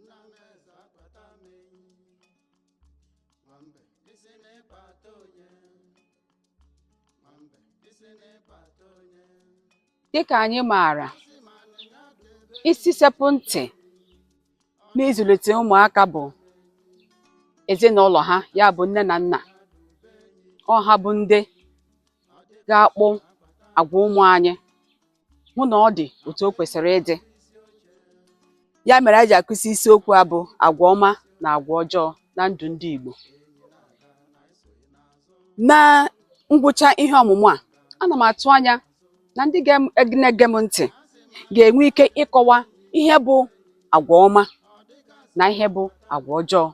nna m eze akpata m enyi nwa mbe ị sị na ị kpata onye nwa mbe ị sị na ị kpata onye dịka anyị maara isi sekpụ ntị n'ịzụlite ụmụaka bụ ezinụlọ ha ya bụ nne na nna ọ ha bụ ndị ga-akpụ agwa ụmụ anyị hụ na ọ dị otu o kwesịrị ịdị ya mere anyị ji akụzi isiokwu a bụ agwa ọma na agwa ọjọọ na ndụ ndị Igbo na ngwụcha ihe ọmụmụ a ana m atụ anya na ndị na-ege m ntị ga-enwe ike ịkọwa ihe bụ agwa ọma na ihe bụ agwa ọjọọ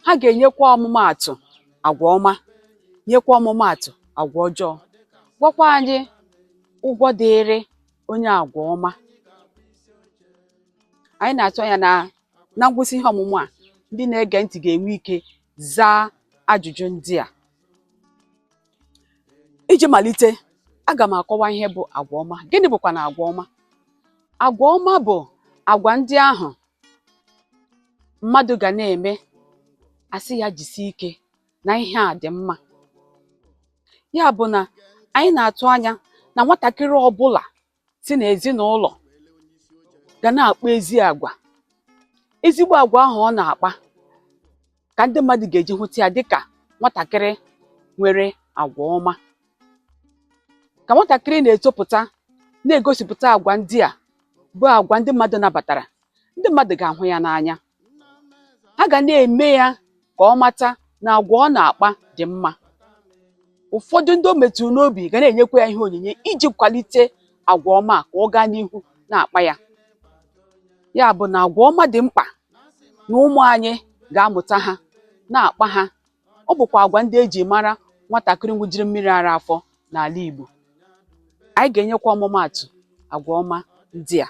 ha ga-enyekwa ọmụmaatụ agwa ọma nyekwa ọmụmaatụ agwa ọjọọ gwakwa anyị ụgwọ dịịrị onye agwa ọma anyị na-atụ anya na na ngwụsị ihe ọmụmụ a ndị na-ege ntị ga-enwe ike zaa ajụjụ ndị a iji malite aga m akọwa ihe bụ agwa ọma gịnị bụkwanụ agwa ọma agwa ọma bụ agwa ndị ahụ mmadụ ga na-eme a sị ya jisie ike na ihe a dị mma ya bụ na anyị na-atụ anya na nwatakịrị ọbụla si n'ezinụlọ ga na-akpa ezi agwa ezigbo agwa ahụ ọ na-akpa ka ndị mmadụ ga-eji hụta ya dịka nwatakịrị nwere agwa ọma ka nwatakịrị na-etopụta na-egosipụta agwa ndị a bụ agwa ndị mmadụ nabatara ndị mmadụ ga-ahụ ya n'anya ha ga na-eme ya ka ọ mata na agwa ọ na-akpa dị mma ụfọdụ ndị o metụrụ n'obi ga na-enyekwa ya ihe onyinye iji kwalite agwa ọma ka ọ gaa n'ihu na-akpa ya ya bụ na agwa ọma dị mkpa na ụmụ anyị ga-amụta ha na-akpa ha ọ bụkwa agwa ndị e ji mara nwatakịrị ṅụjiri mmiri ara afọ n'ala Igbo anyị ga-enyekwa ọmụmaatụ agwa ọma ndị a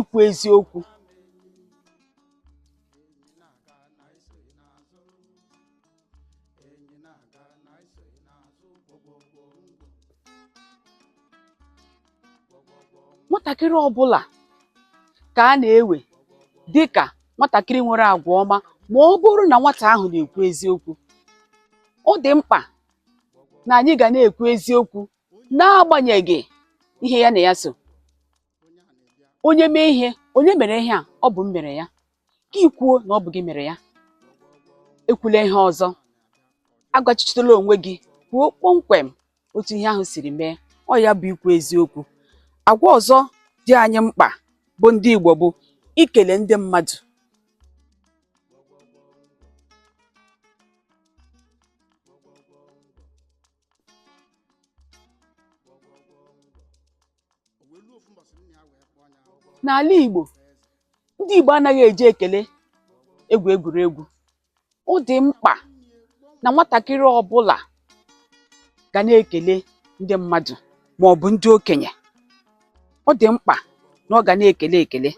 ikwu eziokwu nwatakịrị ọbụla ka a na-ewe dị ka nwatakịrị nwere agwa ọma ma ọ bụrụ na nwata ahụ na-ekwu eziokwu ọ dị mkpa na anyị ga na-ekwu eziokwu n'agbanyeghị ihe ya na ya so onye mee ihe onye mere ihe a ọ bụ m mere ya ka ị kwuo na ọ bụ gị mere ya ekwula ihe ọzọ agwachitela onwe gị kwuo kpọmkwem otu ihe ahụ siri mee ọ ya bụ ikwu eziokwu agwa ọzọ dị anyị mkpa bụ ndị Igbo bụ ikele ndị mmadụ n'ala Igbo ndị Igbo anaghị eji ekele egwu egwuregwu ọ dị mkpa na nwatakịrị ọbụla ga na-ekele ndị mmadụ ma ọ bụ ndị okenye ọ dị mkpa na ọ ga na-ekele ekele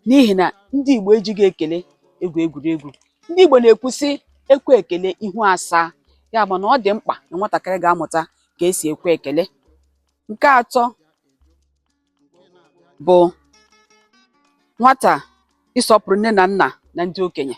n'ihi na ndị Igbo ejighị ekele egwu egwuregwu ndị Igbo na-ekwu sị ekwe ekele ihu asaa ya bụ na ọ dị mkpa na nwatakịrị ga-amụta ka esi ekwe ekele nke atọ bụ nwata ịsọpụrụ nne na nna na ndị okenye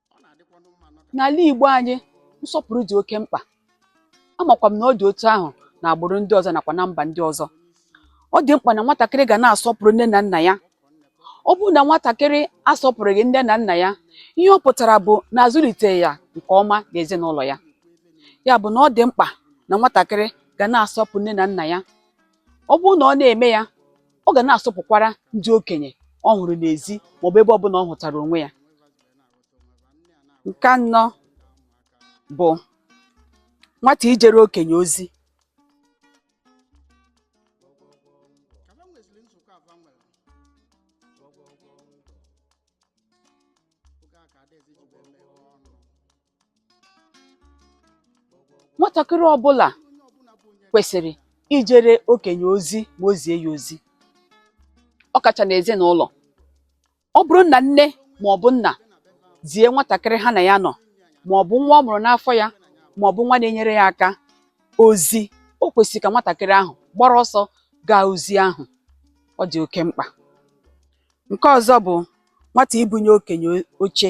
n'ala Igbo anyị nsọpụrụ dị oke mkpa amakwa m na ọ dị otu ahụ n'agbụrụ ndị ọzọ nakwa na mba ndị ọzọ ọ dị mkpa na nwatakịrị ga na-asọpụrụ nne na nna ya ọ bụrụ na nwatakịrị asọpụrụghị nne na nna ya ihe ọ pụtara bụ na azụliteghị ya nke ọma n'ezinụlọ ya ya bụ na ọ dị mkpa na nwatakịrị ga na-asọpụrụ nne na nna ya ọ bụrụ na ọ na-eme ya ọ ga na-asọpụkwara ndị okenye ọ hụrụ n'ezi maọbụ ebe ọbụla ọ hụtara onwe ya nke anọ bụ nwata ijere okenye ozi nwatakịrị ọbụla kwesịrị ijere okenye ozi ma o zie ya ozi ọ kacha n'ezinụlọ ọ bụrụ na nne ma ọ bụ nna zie nwatakịrị ha na ya nọ ma ọ bụ nwa ọ mụrụ n'afọ ya ma ọ bụ nwa na-enyere ya aka ozi o kwesịrị ka nwatakịrị ahụ gbara ọsọ gaa ozi ahụ ọ dị oke mkpa nke ọzọ bụ nwata ibunye okenye oche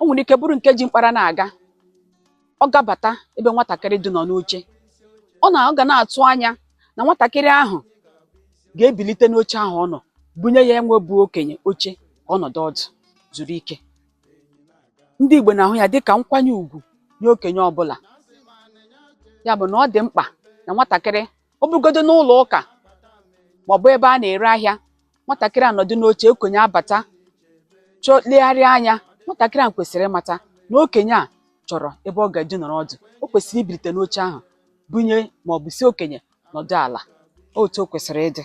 o nwere ike bụrụ nke ji mkpara na-aga ọ gabata ebe nwatakịrị dị nọ n'oche ọ na ọ ga na-atụ anya na nwatakịrị ahụ ga-ebilite n'oche ahụ ọ nọ bunye ya nwa bụ okenye oche ka ọ nọdụ ọdụ zuru ike ndị Igbo na-ahụ ya dịka nkwanye ugwu nye okenye ọbụla ya bụ na ọ dị mkpa na nwatakịrị ọ bụrụgodu n'ụlọ ụka maọbụ ebe a na-ere ahịa nwatakịrị anọdụ n'oche okenye abata chọọ legharịa anya nwatakịrị ahụ kwesịrị ịmata na okenye a chọrọ ebe ọ ga-eji nọrọ ọdụ o kwesịrị ibilite n'oche ahụ bunye maọbụ sị okenye nọdụ ala otu o kwesịrị ịdị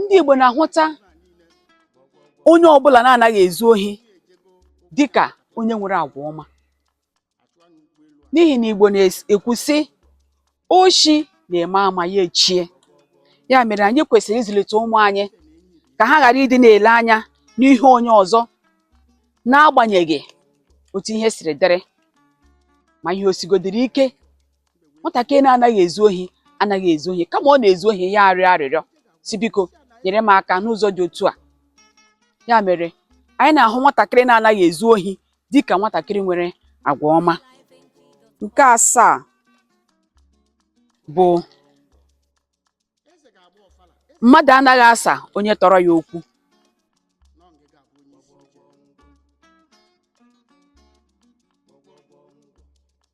ndị Igbo na-ahụta onye ọbụla na-anaghị ezu ohi dịka onye nwere agwa ọma n'ihi na Igbo na-ekwu sị oshi na-eme ama ya echie ya mere anyị kwesịrị ịzụlite ụmụ anyị ka ha ghara ịdị na-ele anya n'ihe onye ọzọ n'agbanyeghị otu ihe siri dịrị ma ihe o sigodiri ike nwatakịrị na-anaghị ezu ohi anaghị ezu ohi kama ọ na-ezu ohi ya arịọ arịrịọ sị biko nyere m aka n'ụzọ dị otu a ya mere anyị na-ahụ nwatakịrị na-anaghị ezu ohi dị ka nwatakịrị nwere agwa ọma nke asaa bụ mmadụ anaghị asa onye tọrọ ya okwu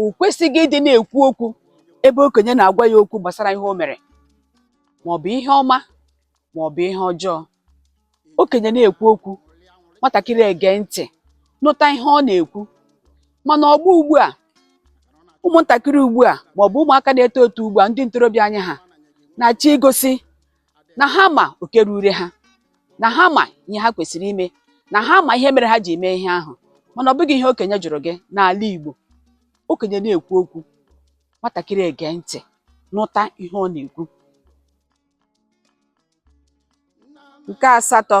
o kwesịghị ịdị na-ekwu okwu ebe okenye na-agwa ya okwu gbasara ihe o mere ma ọ bụ ihe ọma ma ọ bụ ihe ọjọọ okenye na-ekwu okwu nwatakịrị ege ntị nụta ihe ọ na-ekwu mana ọgbọ ugbu a ụmụntakịrị ugbu a ma ọ bụ ụmụaka na-eto eto ugbu a ndị ntorobịa anyị ha na-achọ igosi na ha ma oke rure ha na ha ma ihe ha kwesịrị ime na ha ma ihe mere ha ji eme ihe ahụ mana ọ bụghị ihe okenye jụrụ gị n'ala Igbo okenye na-ekwu okwu nwatakịrị ege ntị nụta ihe ọ na-ekwu nke asatọ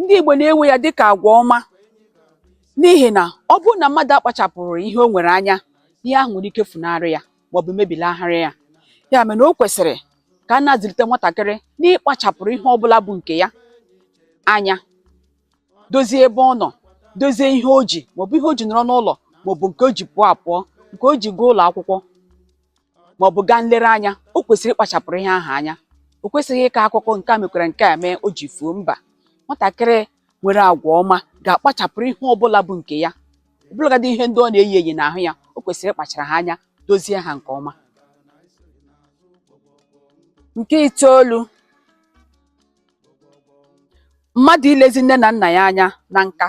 ndị Igbo na-ewe ya dịka agwa ọma n'ihi na ọ bụrụ na mmadụ akpachapụrụ ihe o nwere anya ihe ahụ nwere ike funarị ya maọbụ mebilagharị ya ya mere na o kwesịrị ka a na-azụlite nwatakịrị n'ịkpachapụrụ ihe ọbụla bụ nke ya anya dozie ebe ọ nọ dozie ihe o ji maọbụ ihe o ji nọrọ n'ụlọ maọbụ nke o ji pụọ apụọ nke o ji gaa ụlọ akwụkwọ ma ọ bụ gaa nlereanya o kwesịrị ịkpachapụrụ ihe ahụ anya o kwesịghị ịkọ akụkọ nke a mekwara nke a mee o ji fuo mba nwatakịrị nwere agwa ọma ga-akpachapụrụ ihe ọbụla bụ nke ya ọbụlagadị ihe ndị ọ na-eyi eyi n'ahụ ya o kwesịrị ịkpachara ha anya dozie ha nke ọma nke itoolu mmadụ ilezi nne na nna ya anya na nka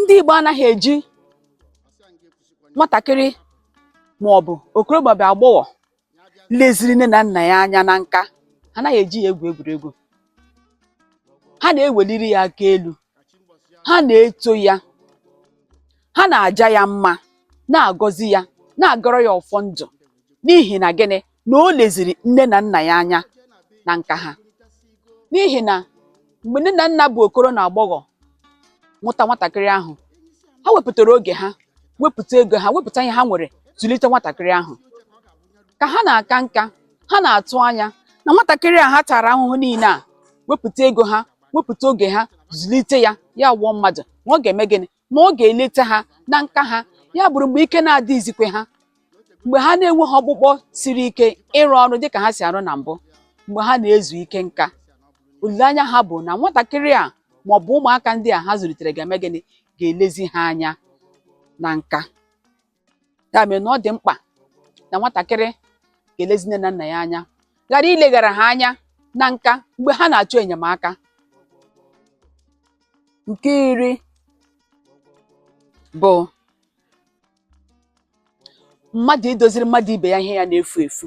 ndị Igbo anaghị eji nwatakịrị ma ọ bụ okoro ma ọ bụ agbọghọ leziri nne na nna ya anya na nka anaghị eji ya egwu egwuregwu ha na-eweliri ya aka elu ha na-eto ya ha na-aja ya mma na-agọzi ya na-agọrọ ya ọfọ ndụ N'ihi na gịnị? Na o leziri nne na nna ya anya na nka ha. N'ihi na mgbe nne na nna bụ okoro na agbọghọ mụta nwatakịrị ahụ, ha wepụtara oge ha, wepụta ego ha, wepụta ihe ha nwere zụlite nwatakịrị ahụ. Ka ha na-aka nka, ha na-atụ anya na nwatakịrị a ha tara ahụhụ niile a, wepụta ego ha, wepụta oge ha, zụlite ya, ya wụọ mmadụ, na ọ ga-eme gịnị? ma ọ ga-eleta ha na nka ha ya bụrụ mgbe ike na-adịghịzikwe ha mgbe ha na-enweghị ọkpụkpọ siri ike ịrụ ọrụ dịka ha si arụ na mbụ mgbe ha na-ezu ike nka olileanya ha bụ na nwatakịrị a ma ọ bụ ụmụaka ndị a ha zụlitere ga-eme gịnị ga-elezi ha anya na nka ya mere na ọ dị mkpa na nwatakịrị ga-elezi nne na nna ya anya ghara ileghara ha anya na nka mgbe ha na-achọ enyemaka nke iri bụ mmadụ idoziri mmadụ ibe ya ihe ya na-efu efu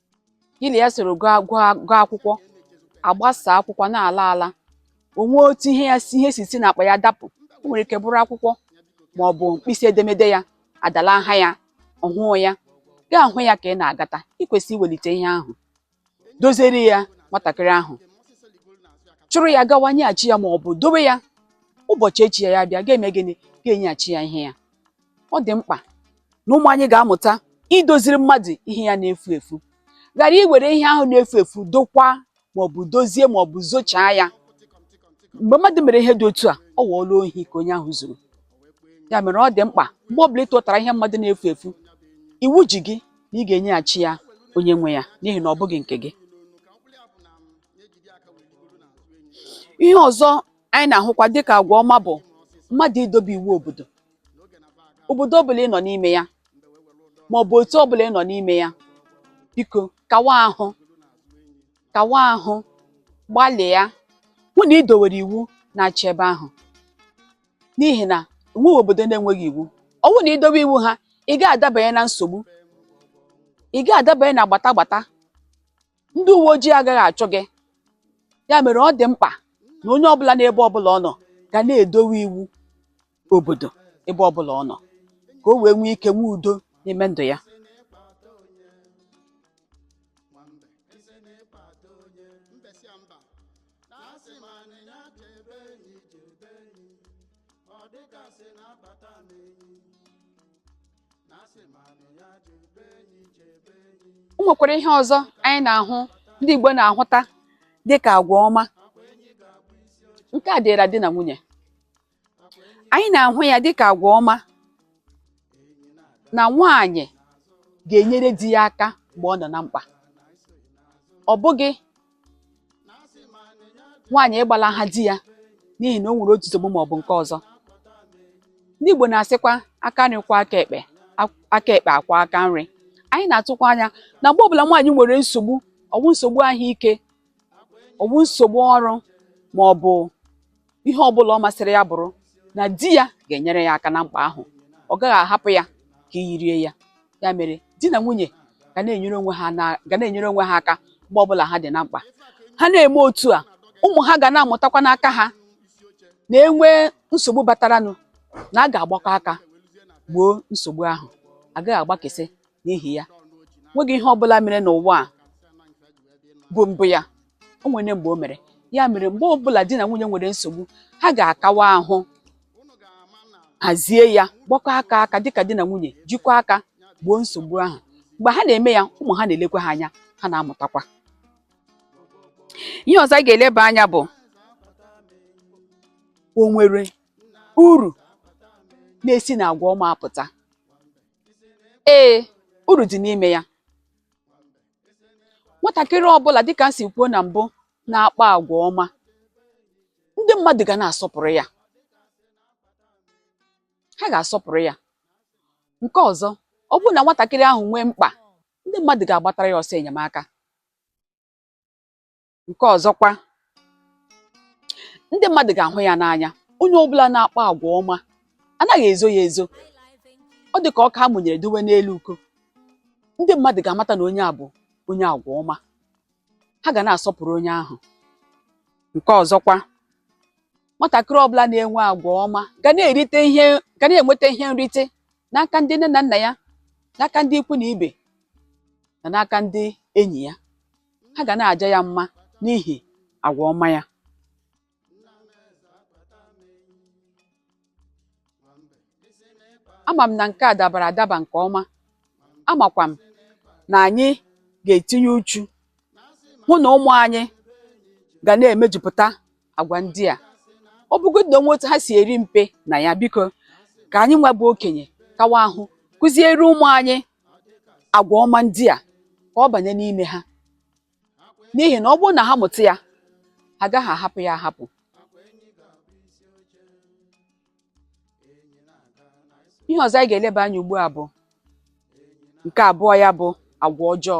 gị na ya soro gụọ akwụkwọ a gbasaa akwụkwọ na-ala ala o nwee otu ihe ya ihe si si n'akpa ya dapụ o nwere ike bụrụ akwụkwọ ma ọ bụ mkpịsị edemede ya adalaha ya ọ hụghị ya gị ahụ ya ka ị na-agata i kwesịrị iwelite ihe ahụ doziere ya nwatakịrị ahụ chụrụ ya gawa nyeghachi ya ma ọ bụ dowe ya ụbọchị echi ya ya bịa ga-eme gịnị ga-enyeghachi ya ihe ya ọ dị mkpa na ụmụ anyị ga-amụta idoziri mmadụ ihe ya na-efu efu ghara iwere ihe ahụ na-efu efu dokwa maọbụ dozie maọbụ zochaa ya mgbe mmadụ mere ihe dị otu a ọ ghọọla ohi ka onye ahụ zuru ya mere ọ dị mkpa mgbe ọbụla ị tụtara ihe mmadụ na-efu efu iwu ji gị na ị ga-enyeghachi ya onye nwe ya n'ihi na ọ bụghị nke gị ihe ọzọ anyị na-ahụkwa dịka agwa ọma bụ mmadụ idobe iwu obodo obodo ọbụla ị nọ n'ime ya ma ọ bụ otu ọbụla ị nọ n'ime ya biko kawa ahụ kawa ahụ gbalịa hụ na i dowere iwu na-achị ebe ahụ n'ihi na enweghị obodo na-enweghị iwu ọ bụrụ na i dowe iwu ha ị gaghị adabanye na nsogbu ị gaghị adabanye na gbata gbata ndị uwe ojii agaghị achụ gị ya mere ọ dị mkpa na onye ọbụla n'ebe ọbụla ọ nọ ga na-edowe iwu obodo ebe ọbụla ọ nọ ka o wee nwee ike nwee udo n'ime ndụ ya o nwekwara ihe ọzọ anyị na-ahụ ndị Igbo na-ahụta dị ka agwa ọma nke a dịịra di na nwunye anyị na-ahụ ya dịka agwa ọma na nwaanyị ga-enyere di ya aka mgbe ọ nọ na mkpa ọ bụghị nwaanyị ịgbalaha di ya n'ihi na o nwere otu nsogbu ma ọ bụ nke ọzọ ndị Igbo na-asịkwa aka nri kwọọ aka ekpe aka ekpe akwọọ aka nri anyị na-atụkwa anya na mgbe ọbụla nwaanyị nwere nsogbu ọ wụ nsogbu ahụike ọ wụ nsogbu ọrụ ma ọ bụ ihe ọ bụla ọ masịrị ya bụrụ na di ya ga-enyere ya aka na mkpa ahụ ọ gaghị ahapụ ya ka iyi rie ya ya mere di na nwunye ga na-enyere onwe ha ga na-enyere onwe ha aka mgbe ọbụla ha dị na mkpa ha na-eme otu a ụmụ ha ga na-amụtakwa n'aka ha na e nwee nsogbu bataranụ na a ga-agbakọ aka gboo nsogbu ahụ a gaghị agbakesị n'ihi ya nweghị ihe ọ bụla mere n'ụwa a bụ mbụ ya o nwere mgbe o mere ya mere mgbe ọ bụla di na nwunye nwere nsogbu ha ga-akawa ahụ hazie ya gbakọ aka aka dịka di na nwunye jikọọ aka gboo nsogbu ahụ mgbe ha na-eme ya ụmụ ha na-elekwa ha anya ha na-amụtakwa ihe ọzọ anyị ga-eleba anya bụ o nwere uru na-esi n'agwa ọma apụta ee uru dị n'ime ya nwatakịrị ọbụla dịka m si kwuo na mbụ na-akpa agwa ọma ndị mmadụ ga na-asọpụrụ ya ha ga-asọpụrụ ya nke ọzọ ọ bụrụ na nwatakịrị ahụ nwee mkpa ndị mmadụ ga-agbatara ya ọsọ enyemaka Nke ọzọkwa, ndị mmadụ ga-ahụ ya n'anya. Onye ọbụla na-akpa agwa ọma anaghị ezo ya ezo. Ọ dị ka ọkụ a mụnyere dowe n'elu uko. Ndị mmadụ ga-amata na onye a bụ onye agwa ọma. Ha ga na-asọpụrụ onye ahụ. Nke ọzọkwa, nwatakịrị ọbụla na-enwe agwa ọma ga na-erite ihe ga na-enweta ihe nrite n'aka ndị nne na nna ya, n'aka ndị ikwu na ibe na n'aka ndị enyi ya. ha ga na-aja ya mma n'ihi agwa ọma ya. Ama m na nke a dabara adaba nke ọma, amakwa m na anyị ga-etinye uchu hụ na ụmụ anyị ga na-emejupụta agwa ndị a ọ bụgodị na o nwe otu ha si eri mpe na ya biko ka anyị nwa bụ okenye kawa ahụ kụziere ụmụ anyị agwa ọma ndị a ka ọ banye n'ime ha n'ihi na ọ bụrụ na ha mụta ya ha agaghị ahapụ ya ahapụ ihe ọzọ anyị ga-eleba anya ugbu a bụ nke abụọ ya bụ agwa ọjọọ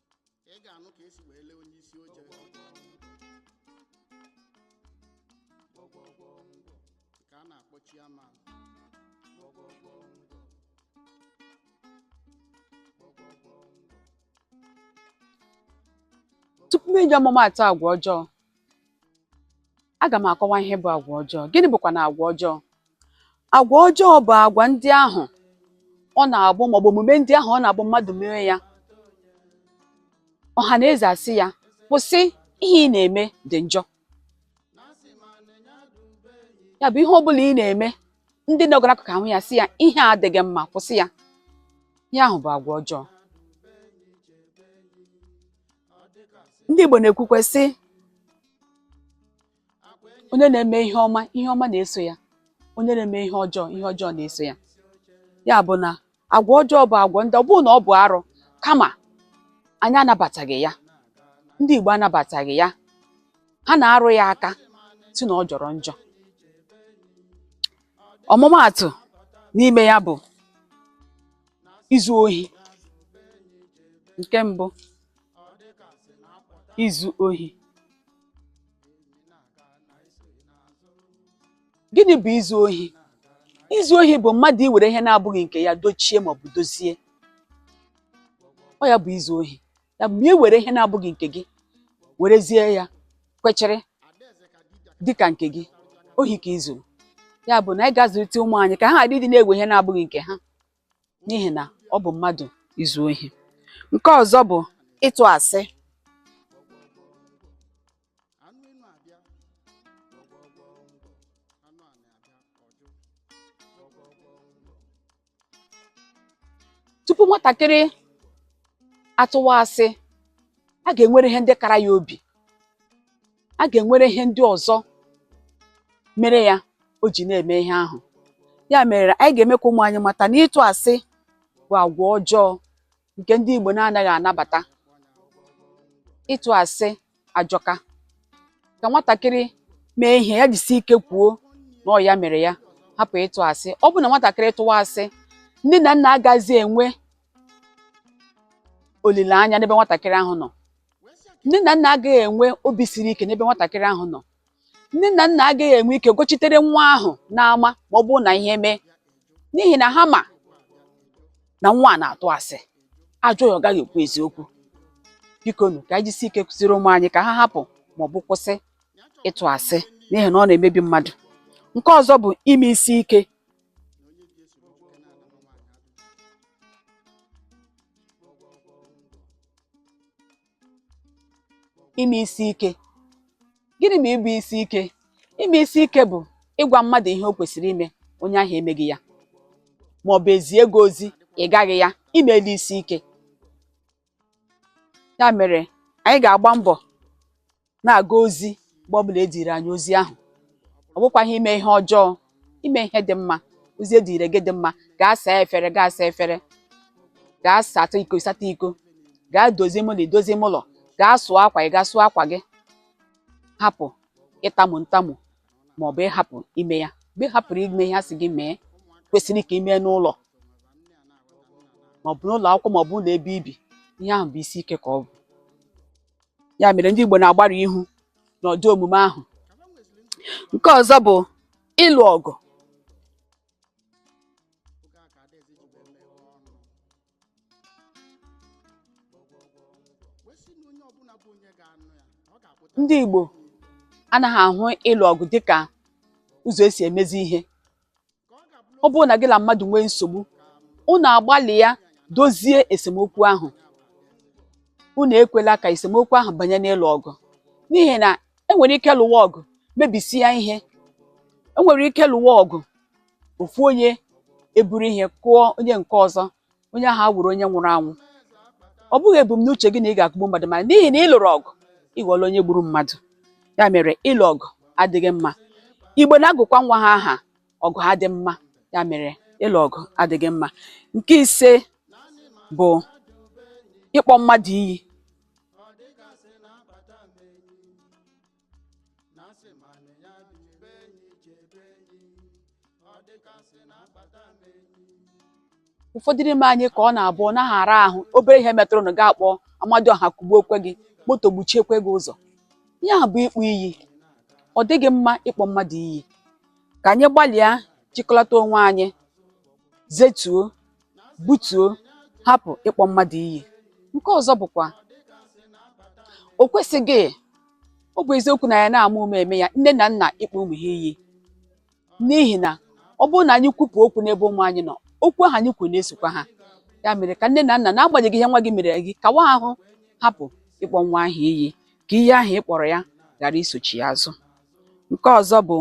ị ga-anụ ka e si wee lee onye isi oche ka a na-akpọ chairman tupu m enye ọmụmaatụ agwa ọjọọ Aga m akọwa ihe bụ agwa ọjọọ. Gịnị bụkwanụ agwa ọjọọ? Agwa ọjọọ bụ agwa ndị ahụ ọ na-abụ maọbụ omume ndị ahụ ọ na-abụ mmadụ mee ya ọha na eze asị ya kwụsị ihe ị na-eme dị njọ ya bụ ihe ọ bụla ị na-eme ndị nọga n'akụkụ ahụ ya sị ya ihe a adịghị mma kwụsị ya ihe ahụ bụ agwa ọjọọ ndị Igbo na-ekwukwe sị onye na-eme ihe ọma ihe ọma na-eso ya onye na-eme ihe ọjọọ ihe ọjọọ na-eso ya ya bụ na agwa ọjọọ bụ agwa ndị ọ bụghị na ọ bụ arụ kama anyị anabataghị ya ndị Igbo anabataghị ya ha na-arụ ya aka sị na ọ jọrọ njọ ọmụmaatụ n'ime ya bụ izu ohi nke mbụ izu ohi gịnị bụ izu ohi izu ohi bụ mmadụ iwere ihe na-abụghị nke ya dochie maọbụ dozie ọ ya bụ izu ohi ya bụ i were ihe na-abụghị nke gị werezie ya kwechiri dịka nke gị ohi ka i zu ya bụ na anyị ga-azụlite ụmụ anyị ka ha ghara ịdị na-ewe ihe na-abụghị nke ha n'ihi na ọ bụ mmadụ izu ohi nke ọzọ bụ ịtụ asị tupu nwatakịrị atụwa asị a ga-enwere ihe ndị kara ya obi a ga-enwere ihe ndị ọzọ mere ya o ji na-eme ihe ahụ ya mere anyị ga-eme ka ụmụ anyị mata na ịtụ asị bụ agwa ọjọọ nke ndị Igbo na-anaghị anabata ịtụ asị ajọka ka nwatakịrị mee ihe ya jisi ike kwuo na ọ ya mere ya hapụ ịtụ asị ọ bụ na nwatakịrị tụwa asị nne na nna agaghịzi enwe olileanya n'ebe nwatakịrị ahụ nọ nne na nna agaghị enwe obi siri ike n'ebe nwatakịrị ahụ nọ nne na nna agaghị enwe ike gochitere nwa ahụ n'ama ma ọ bụrụ na ihe mee n'ihi na ha ma na nwa a na-atụ asị a jụọ ya ọ gaghị ekwu eziokwu bikonu ka anyị jisi ike kụziri ụmụ anyị ka ha hapụ ma ọ bụ kwụsị ịtụ asị n'ihi na ọ na-emebi mmadụ nke ọzọ bụ ime isi ike ime isi ike gịnị bụ ịbụ isi ike ime isi ike bụ ịgwa mmadụ ihe o kwesịrị ime onye ahụ emeghị ya ma ọ bụ ezie gị ozi ị gaghị ya i meela isi ike ya mere anyị ga-agba mbọ na-aga ozi mgbe ọ bụla eziri anyị ozi ahụ ọ bụkwaghị ime ihe ọjọọ ime ihe dị mma ozi eziri gị dị mma gaa saa efere gaa saa efere gaa sata iko sata iko gaa dozie ime ụlọ i dozie ime ụlọ gaa sụọ akwa ị gaa sụọ akwa gị hapụ ịtamu ntamu ma ọ bụ ịhapụ ime ya mgbe ị hapụrụ ime ihe a sị gị mee kwesịrị ka i mee n'ụlọ maọbụ n'ụlọ akwụkwọ maọbụ ụlọ ebe i bi ihe ahụ bụ isi ike ka ọ bụ ya mere ndị Igbo na-agbarụ ihu n'ụdị omume ahụ nke ọzọ bụ ịlụ ọgụ ndị Igbo anaghị ahụ ịlụ ọgụ dịka ụzọ esi emezi ihe ọ bụrụ na gị na mmadụ nwee nsogbu unu agbalịa dozie esemokwu ahụ unu ekwela ka esemokwu ahụ banye n'ịlụ ọgụ n'ihi na enwere ike lụwa ọgụ mebisia ihe enwere ike lụwa ọgụ ofu onye eburu ihe kụọ onye nke ọzọ onye ahụ awụrụ onye nwụrụ anwụ ọ bụghị ebumnuche gị na ị ga-akụgbu mmadụ ma n'ihi na ị lụrụ ọgụ ị ghọọla onye gburu mmadụ ya mere ịlụ ọgụ adịghị mma igbo na-agụkwa nwa ha aha Ọgụadịmma ya mere ịlụ ọgụ adịghị mma nke ise bụ ịkpọ mmadụ iyi ụfọdụ n'ime anyị ka ọ na-abụ ọ naghị ara ahụ obere ihe metụrụnụ gị akpọ Amadioha kụgbuokwe gị moto gbuchiekwe gị ụzọ ihe a bụ ịkpọ iyi ọ dịghị mma ịkpọ mmadụ iyi ka anyị gbalịa jikọlata onwe anyị zetuo butuo hapụ ịkpọ mmadụ iyi nke ọzọ bụkwa o kwesịghị ọ bụ eziokwu na ya na-ama ụma eme ya nne na nna ịkpọ ụmụ ha iyi n'ihi na ọ bụrụ na anyị kwupụ okwu n'ebe ụmụ anyị nọ okwu ahụ anyị kwuru na-esokwa ha ya mere ka nne na nna n'agbanyeghị ihe nwa gị mere gị kawa ahụ hapụ ịkpọ nwa ahụ iyi ka ihe ahụ ị kpọrọ ya ghara isochi ya azụ nke ọzọ bụ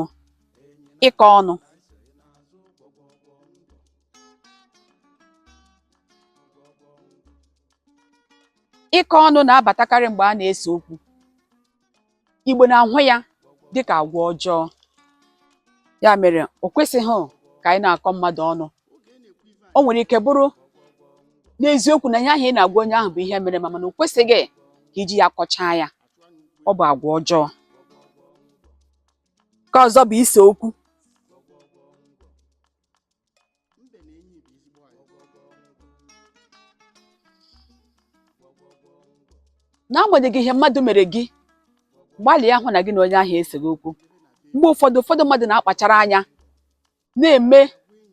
ịkọ ọnụ ịkọ ọnụ na-abatakarị mgbe a na-ese okwu Igbo na-ahụ ya dịka agwa ọjọọ ya mere o kwesịghị ka anyị na-akọ mmadụ ọnụ o nwere ike bụrụ n'eziokwu na ihe ahụ ị na-agwa onye ahụ bụ ihe mere ma mana o kwesịghị ka iji ya kọchaa ya ọ bụ agwa ọjọọ nke ọzọ bụ ise okwu n'agbanyeghị ihe mmadụ mere gị gbalịa hụ na gị na onye ahụ eseghị okwu mgbe ụfọdụ ụfọdụ mmadụ na-akpachara anya na-eme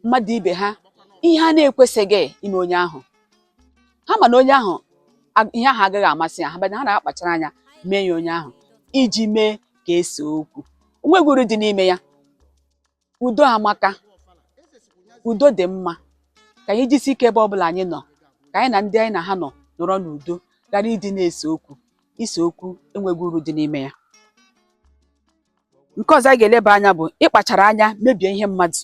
mmadụ ibe ha ihe a na-ekwesịghị ime onye ahụ ha ma na onye ahụ ag- ihe ahụ agaghị amasị ya mana ha na-akpachara anya mee ya onye ahụ iji mee ka e see okwu o nweghị uru dị n'ime ya udo amaka udo dị mma ka anyị jisi ike ebe ọbụla anyị nọ ka anyị na ndị anyị na ha nọ nọrọ n'udo ghara ịdị na-ese okwu ise okwu enweghị uru dị n'ime ya nke ọzọ anyị ga-eleba anya bụ ịkpachara anya mebie ihe mmadụ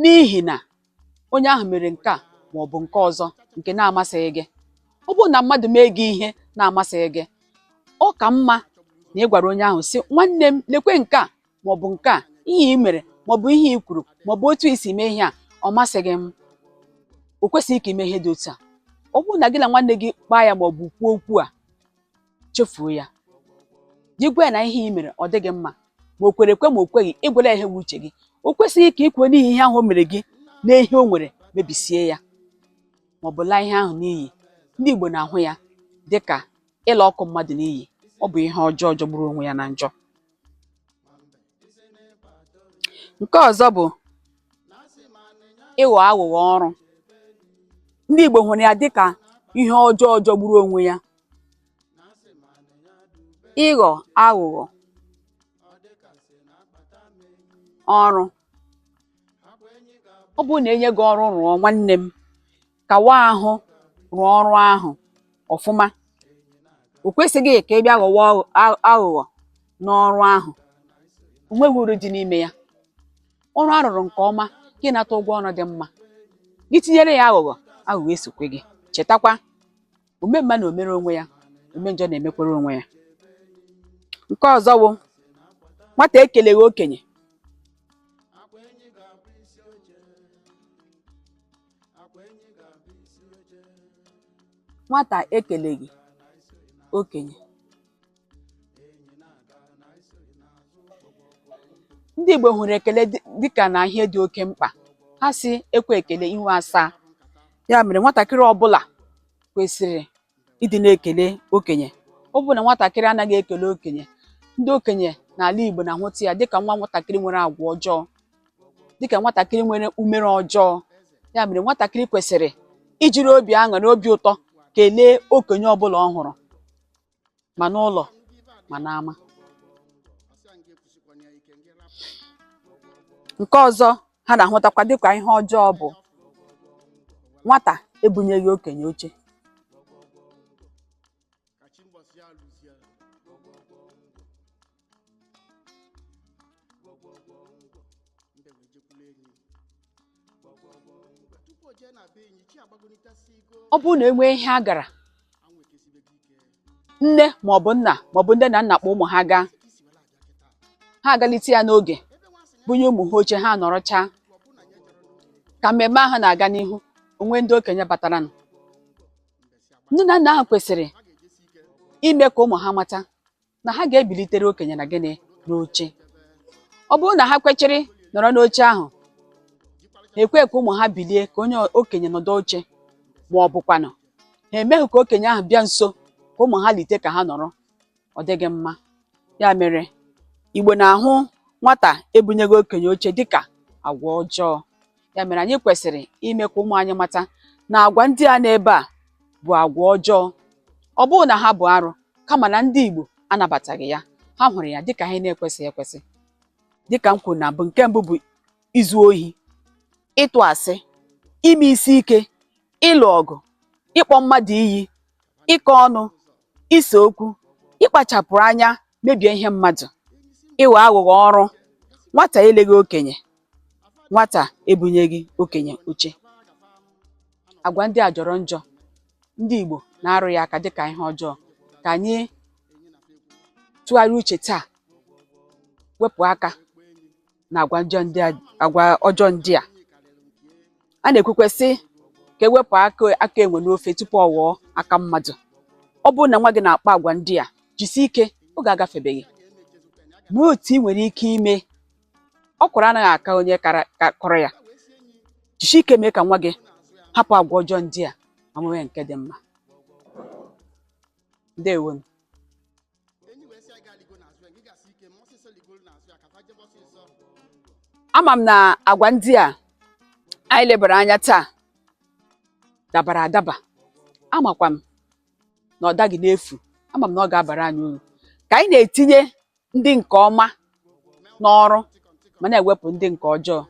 N'ihi na onye ahụ mere nke a ma ọ bụ nke ọzọ nke na-amasịghị gị. Ọ bụrụ na mmadụ mee gị ihe na-amasịghị gị, ọ ka mma na ị gwara onye ahụ sị nwanne m lekwe nke a ma ọ bụ nke a ihe i mere ma ọ bụ ihe i kwuru ma ọ bụ otu i si mee ihe a ọ masịghị m o kwesịghị ka i mee ihe dị otu a ọ bụrụ na gị na nwanne gị kpaa ya ma ọ bụ kwuo okwu a chefuo ya gị gwa ya na ihe ị mere ọ dịghị mma ma o kwere ekwe ma o kweghị ị gwala ya ihe bụ uche gị o kwesịghị ka i kwuo n'ihi ihe ahụ o mere gị na ihe o nwere mebisie ya ma ọ bụ laa ihe ahụ n'iyi ndị Igbo na-ahụ ya dị ka ịla akụ mmadụ n'iyi ọ bụ ihe ọjọọ jọgburu onwe ya na njọ nke ọzọ bụ ịghọ aghụghọ ọrụ ndị Igbo hụrụ ya dịka ihe ọjọọ jọgburu onwe ya ịghọ aghụghọ ọrụ ọ bụrụ na e nye gị ọrụ rụọ nwanne m kawa ahụ rụọ ọrụ ahụ ọfụma o kwesịghị ka ị bịa ghọwa aghụghọ n'ọrụ ahụ o nweghị uru dị n'ime ya ọrụ a rụrụ nke ọma gị nata ụgwọ ọrụ dị mma gị tinyere ya aghụghọ aghụghọ esokwe gị chetakwa ome mma na-emere onwe ya ome njọ na-emekwere onwe ya nke ọzọ wụ nwata ekeleghị okenye nwata ekeleghị okenye ndị Igbo hụrụ ekele dịka na ihe dị oke mkpa ha sị e kwee ekele ihu asaa ya mere nwatakịrị ọbụla kwesịrị ịdị na-ekele okenye ọ bụ na nwatakịrị anaghị ekele okenye ndị okenye n'ala Igbo na-ahụta ya dịka nwa nwatakịrị nwere agwa ọjọọ dịka nwatakịrị nwere umere ọjọọ ya mere nwatakịrị kwesịrị ijiri obi aṅụrị obi ụtọ kelee okenye ọbụla ọ hụrụ ma n'ụlọ ma n'ama nke ọzọ ha na-ahụtakwa dịka ihe ọjọọ bụ nwata ebunyeghị okenye oche gbọgbọgbọ ngwọ mbe wee jekwuru enyi gbọgbọgbọ ngwọ tupu o jee na be enyi chi agbagonitasị igo ọ bụrụ na enwee ihe a gara anwụ ekesibego ike nne maọbụ nna maọbụ ndị na nna kpọ ụmụ ha gaa ka isi were abịa kịta ha agalite ya n'oge ebe nwa sị na bunye ụmụ ha oche ha nọrọchaa ọ bụ na ya jere n'ụlọ ka mmemme ahụ na-aga n'ihu onwe ndị okenye bataranụ nne na nna ahụ kwesịrị ime ka ụmụ ha mata na ha ga-ebilitere okenye na gịnị n'oche ọ bụrụ na ha kwechiri nọrọ n'oche ahụ ha ekwe ka ụmụ ha bilie ka onye okenye nọdụ oche ma ọ bụkwanụ ha emeghị ka okenye ahụ bịa nso ka ụmụ ha lite ka ha nọrọ ọ dịghị mma ya mere Igbo na-ahụ nwata ebunyeghị okenye oche dịka agwa ọjọọ ya mere anyị kwesịrị ime ka ụmụ anyị mata na agwa ndị a n'ebe a bụ agwa ọjọọ ọ bụghị na ha bụ arụ kama na ndị Igbo anabataghị ya ha hụrụ ya dịka ihe na-ekwesịghị ekwesị dịka m kwuru na mbụ nke mbụ bụ izu ohi ịtụ asị ime isi ike ịlụ ọgụ ịkpọ mmadụ iyi ịkọ ọnụ ise okwu ịkpachapụrụ anya mebie ihe mmadụ ịghọ aghụghọ ọrụ nwata eleghị okenye nwata ebunyeghị okenye oche agwa ndị a jọrọ njọ ndị Igbo na-arụ ya aka dịka ihe ọjọọ ka anyị tụgharịa uche taa wepụ aka na agwa ọjọọ ndị a a na-ekwukwe sị ka e wepụ aka enwe n'ofe tupu ọ ghọọ aka mmadụ ọ bụrụ na nwa gị na-akpa agwa ndị a jisie ike oge agafebeghị ma otu ị nwere ike ime ọkwụrụ anaghị aka onye kọrọ ya jisie ike mee ka nwa gị hapụ agwa ọjọọ ndị a ma nwee nke dị mma ndewo ama m na agwa ndị a anyị lebara anya taa dabara adaba amakwa m na ọ daghị n'efu ama m na ọ ga-abara anyị uru ka anyị na-etinye ndị nke ọma n'ọrụ ma na-ewepụ ndị nke ọjọọ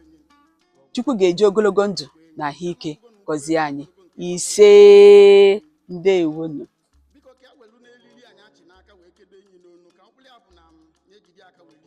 Chukwu ga-eji ogologo ndụ na ahụike gọzie anyị ise ndewonu biko ka e welu n'elili anyị achị n'aka wee kedo enyi n'onu ka mkpụrụ ya bụ na m na-ejide aka welu.